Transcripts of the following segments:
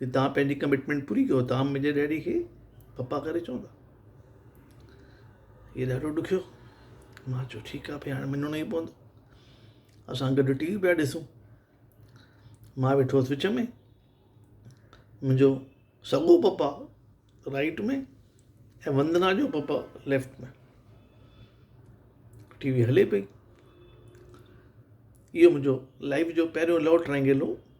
جي توهان پنهنجي ڪمٽمينٽ پوري ڪيو توهان منهنجي ڊيڊي کي پپا ڪري چوندا هي ڏاڍو ڏکيو مان چيو ٺيڪ آهي ڀي هاڻي مڃڻو ئي پوندو اسان گڏ ٽي وي پيا ڏسون مان ويٺو هوس وچ ۾ منهنجو سڳو پپا رائيٽ ۾ ۽ وندنا جو پپا ليفٽ ۾ ٽي وي هلي پئي اهو منهنجو لائيف جو پهريون لو ٽرائينگل هو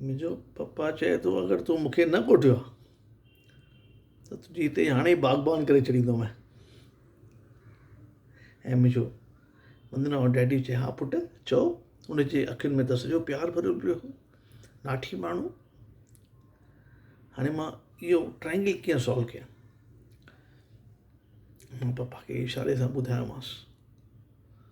منهنجو پپا چئي ٿو اگر تون مون کي نه ڪوٺيو ها ته تنهنجي هتي ئي هاڻي باغبان ڪري ڇڏيندومانء ۽ منهنجو وندنا جو ڊيڊي چئي ها پٽ چئو ان جي اکين ۾ ته سڄو پيار ڀريو پيو هو ناٺي ماڻهو هاڻي مان اهو ٽرائنگل ڪيئن سالو ڪيان مان پپا کي اشاري سان ٻڌايومانس